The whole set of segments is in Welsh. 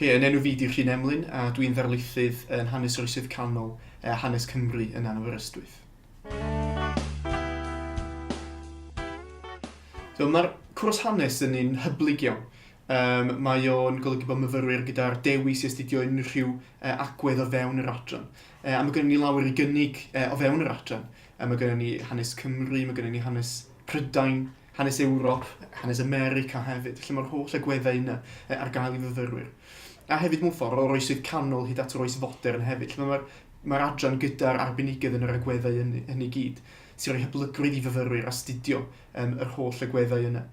Cy, Yn enw fi 'di Rhun Emlyn a dwi'n ddarlithydd yn Hanes yr Oesoedd Canol a Hanes Cymru yn Aberystwyth. So, Mae'r cwrs hanes yn un hyblyg iawn. Um, mae o'n golygu bod myfyrwyr gyda'r dewis i astudio unrhyw uh, agwedd o fewn yr adran. Uh, a mae gennym ni lawer i gynnig uh, o fewn yr adran. Uh, mae gennym ni hanes Cymru, mae gennym ni hanes Prydain, hanes Ewrop, hanes America hefyd, lle mae'r holl agweddau yna ar gael i fyfyrwyr. A hefyd mewn ffordd o'r oesoedd canol hyd at yr oes fodern hefyd, lle mae'r mae adran gyda'r arbenigedd yn yr agweddau hynny, hynny gyd, sy'n rhoi hyblygrwydd i fyfyrwyr astudio um, yr holl agweddau yna.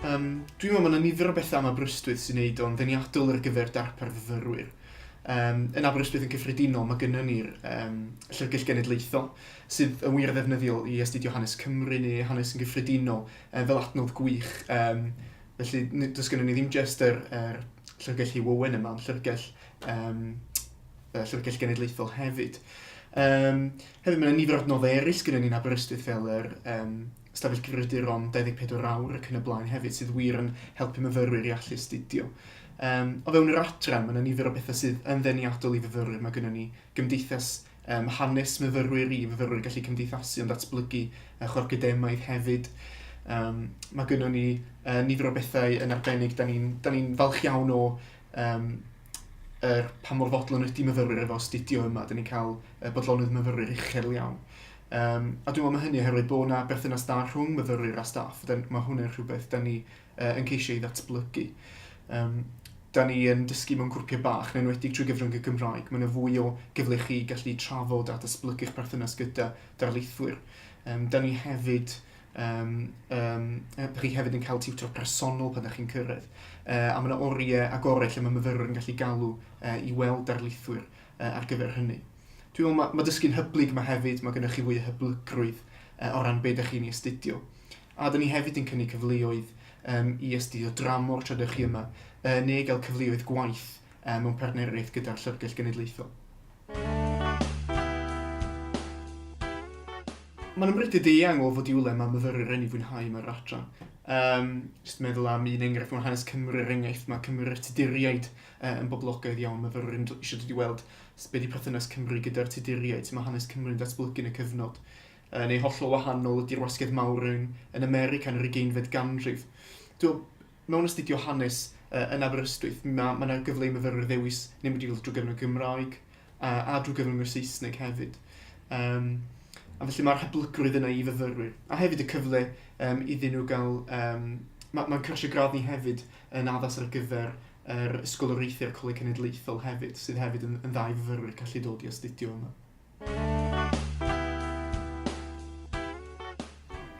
Um, dwi'n meddwl mae yna nifer o bethau am Aberystwyth sy'n neud o'n ddeniadol ar gyfer darpar fyfyrwyr. Um, yn Aberystwyth yn cyffredinol, mae gynnwn ni'r um, Llyfrgell Genedlaethol, sydd yn wir ddefnyddiol i astudio hanes Cymru neu hanes yn gyffredinol, um, fel adnodd gwych. Um, felly, does gynnwn ni ddim jyst yr, yr Llyfrgell Hugh Owen yma, ond Llyfrgell, um, Llyfrgell Genedlaethol hefyd. Um, hefyd, mae yna nifer o adnoddau eraill gyda ni'n Aberystwyth fel yr um, stafell gryfriduron 24 awr ac yn y blaen hefyd sydd wir yn helpu myfyrwyr i allu astudio. Um, o fewn yr adran, mae yna nifer o bethau sydd yn ddeniadol i fyfyrwyr. Mae gennym ni gymdeithas um, hanes myfyrwyr i fyfyrwyr gallu cymdeithasu ond datblygu uh, chorcydemaidd hefyd. Um, mae gennym ni uh, nifer o bethau yn arbennig. Da ni'n ni, falch iawn o um, er pa mor fodlon ydy myfyrwyr efo astudio yma. Da ni'n cael uh, bodlonydd myfyrwyr uchel iawn. Yym, a dwi'n meddwl mae hynny oherwydd bod 'na berthynas da rhwng myfyrwyr a staff. Da, mae hwnna'n rhywbeth da ni uh, yn ceisio ei ddatblygu. Um, da ni yn dysgu mewn grwpiau bach, neu'n wedi trwy gyfrwng y Gymraeg. Mae yna fwy o gyfle chi gallu trafod a datblygu'ch perthynas gyda darlithwyr. Um, da ni hefyd um, um, ydych chi hefyd yn cael tiwtor personol pan ydych chi'n cyrraedd. Uh, a mae yna oriau agorau lle mae myfyrwyr yn gallu galw uh, i weld darlithwyr uh, ar gyfer hynny. Dwi'n meddwl mae, mae dysgu'n hyblyg yma hefyd, mae gennych chi fwy o hyblygrwydd uh, o ran beth ydych chi'n ei astudio. A dyn ni hefyd yn cynnig cyfleoedd um, i astudio dramor tra ydych chi yma, uh, neu gael cyfleoedd gwaith um, mewn partneriaeth gyda'r Llyfrgell Genedlaethol. Mae'n ymrydyd i eang o fod i wle mae myfyrwyr yn ei fwynhau yma yr adran. Um, just meddwl am un enghraifft mewn hanes Cymru, er enghraifft, mae Cymru Tuduriaid Yy yn boblogaidd iawn myfyrwyr yn isio dod i weld be di perthynas Cymru gyda'r Tuduriaid, sut mae hanes Cymru'n datblygu yn y cyfnod. Yy neu hollol wahanol ydi'r wasgedd mawr yn yn America yn yr ugeinfed ganrif. Dw, mewn astudio hanes yy yn Aberystwyth ma' ma' 'na gyfle i myfyrwyr ddewis neu mynd i weld drwy gyfrwng y Gymraeg a a drwy gyfrwng y Saesneg hefyd. Yym a felly mae'r hyblygrwydd yna i fyfyrwyr. A hefyd y cyfle yym iddyn nhw gael yym ma' ma'n cyrsiau gradd ni hefyd yn addas ar gyfer yr Ysgol Oreithi a'r Coleg Cenedlaethol hefyd, sydd hefyd yn, yn ddau fyfyrwyr gallu dod i astudio yma.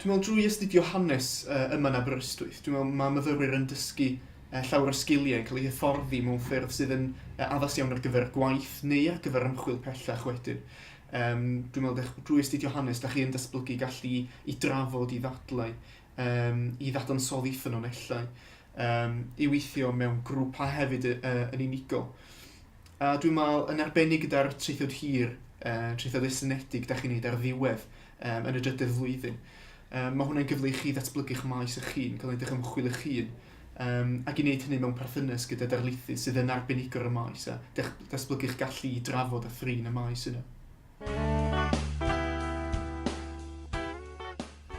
Dwi'n meddwl drwy astudio hanes uh, yma yn Aberystwyth, dwi'n meddwl mae myfyrwyr yn dysgu uh, llawer o sgiliau yn cael eu hyfforddi mewn ffyrdd sydd yn uh, addas iawn ar gyfer gwaith neu ar gyfer ymchwil pellach wedyn. Um, dwi'n meddwl dech, drwy astudio hanes, da chi yn datblygu gallu i drafod, i ddadlau, um, i ddadansoddi ffynonellau. um, i weithio mewn grwpau hefyd uh, yn unigol. A dwi'n meddwl yn arbennig gyda'r treithod hir, uh, treithod estynedig, da chi'n neud ar ddiwedd um, yn y drydedd flwyddyn. Um, mae hwnna'n gyfle i chi ddatblygu'ch maes eich hun, cael edrych ymchwil eich hun, um, ac i wneud hynny mewn perthynas gyda darlithydd sydd yn arbenigwr y maes a datblygu'ch gallu i drafod a thrin y maes yna.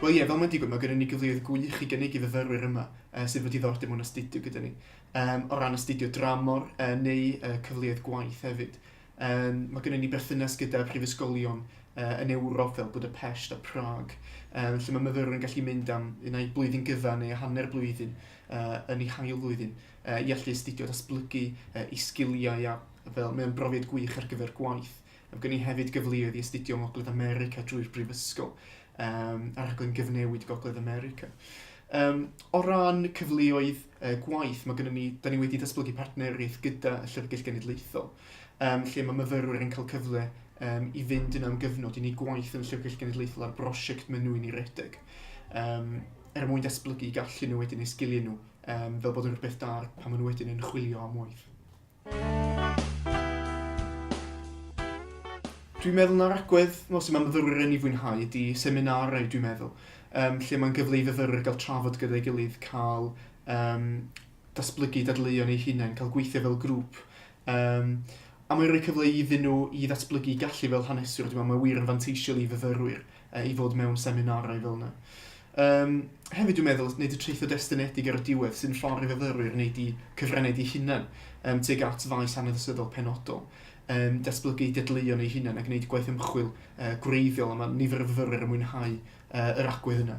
Wel ie, fel mae'n digwydd, mae gennym ni gyfleoedd gwych i gynnig i fyfyrwyr yma uh, sydd wedi ddordeb mewn astudio gyda ni. Um, o ran astudio dramor uh, neu uh, cyfleoedd gwaith hefyd. Um, mae gennym ni berthynas gyda prifysgolion uh, yn Ewrop fel Budapest a Prague, um, lle mae myfyrwyr yn gallu mynd am unau blwyddyn gyfa neu hanner blwyddyn uh, yn ei hail flwyddyn uh, i allu astudio datblygu uh, i sgiliau a fel mae'n brofiad gwych ar gyfer gwaith. Mae gen i hefyd gyfleoedd i astudio yng Ngogledd America drwy'r brifysgol, um, a rhaglen gyfnewid Gogledd America. Um, o ran cyfleoedd uh, gwaith, mae gennym ni, da ni wedi datblygu partneriaeth gyda y Llyfrgell Genedlaethol, um, lle mae myfyrwyr yn cael cyfle um, i fynd yn am gyfnod i ni gwaith yn y Llyfrgell Genedlaethol ar brosiect maen nhw'n ei redeg. Um, er mwyn datblygu gallu nhw wedyn neu sgiliau nhw, um, fel bod yn rhywbeth da pan maen nhw wedyn yn chwilio am waith. Dwi'n meddwl na'r agwedd fel sydd mae myfyrwyr yn ei fwynhau ydy seminarau dwi'n meddwl um, lle mae'n gyfle i fyfyrwyr gael trafod gyda'i gilydd, cael um, datblygu dadleuon eu hunain, cael gweithio fel grŵp. Um, a mae'n rhoi cyfle iddyn nhw i ddatblygu gallu fel haneswr, dwi'n meddwl mae wir yn fanteisiol i fyfyrwyr uh, i fod mewn seminarau fel yna. Um, hefyd dwi'n meddwl, wneud y treitho destynedig ar y diwedd sy'n ffordd i fyfyrwyr wneud i cyfrenau di hunan um, teg at faes aneddysyddol penodol, um, datblygu dedleion ei hunan a gwneud gwaith ymchwil uh, gwreiddiol a mae nifer o fyfyrwyr yn mwynhau uh, yr agwedd yna.